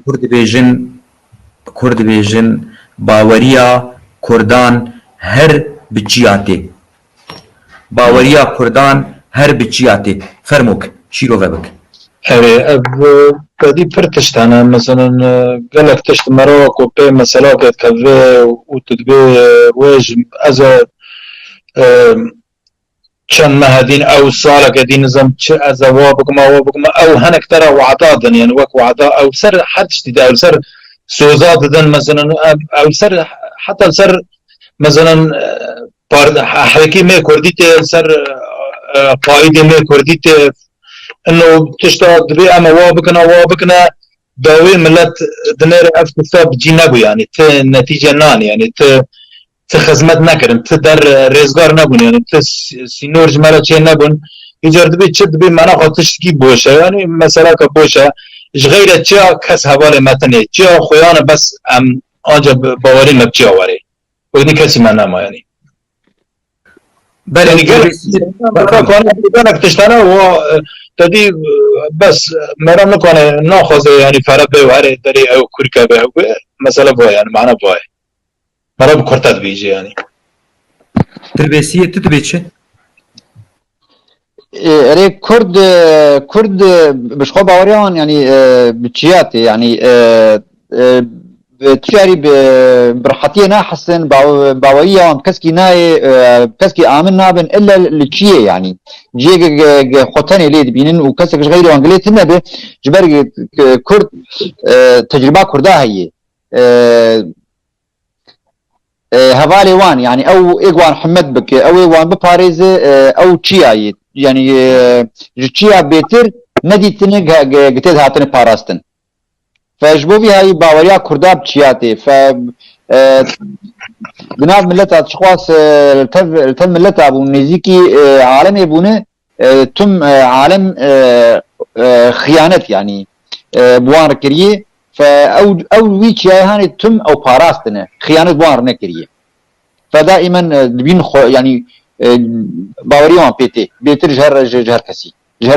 Kur dibêjin, kur dibêjin baweriya kurdan her bi çiya tê. Baweriya kurdan her bi çiya tê. Fermo ki, şîro ve bik. Erê, ev xwedî pir tişt hene. Meselên gelek tişt di merava ku pê meselakê dikeve û tu dibê wê ji ez e Çend mehe din ew saleke din nizam çi ez e wa bikim awa bikim ew hinek te re wada din yani wek wada ew li ser her tiştî de ew li ser soza didin mesela ew li ser heta li ser mesela hekî me kurdî tê li ser qaîdê me kurdî tê ino tişta dibê em e wa bikin a wa bikine dawê milet dinêre ev tişta bi cî nebû yani ti netîce nanê yani ti Ti xizmet nekirin, ti der rêzgar nebûn yanî ti sînor ji me re çê nebûn. Îcar dibî çi dibî mena xwe tiştikî boş e yanî meseleke boş e. Ji xeyre çiya kes hevalê me tenê çiya xwe yan e bes em anca bawerî me bi çiya werê û nî kesî me nema yanî. Belê gelek gelek tiştene wa tedî bes mera nikane naxwaze yanî fere bê û herê derê ew kûrke be ew bê. Mesele bo ye yani mana bo ye. Mara bi kurta dibêje yanî. Til Bêsiyê tu dibê çi? Erê kurd kurd bi ji xwe baweriya wan yanî bi çiya tê yanî tu carî bi rehetiyê nahesin baweriya wan bi keskî nayê bi keskî amin nabin illa li çiyê yanî ciyê ke xwe tenê lê dibînin û kesek ji xeyrê wan dilê tune be ji ber kurd tecrîba kurda heye hevalê wan yanî ew ê wan himet bike ew ê wan biparêze ew çiya yê yanî ji çiya bêtir nedîtine gitê dihatine parastin fe ji bo vî hayî baweriya kurda bi çiya tê fe bi nav mileta çixwas li tev mileta bûn nêzîkî alemê bûne Tim alem xiyanet yanî bi wan re kiriyê fe ew ew wî çiyayê hanê tim ew parastine xiyanet bi wan re nekiriyê fe daî men dibîn xwe yanî bawerî wan pê tê bêtir ji her ji her kesî ji her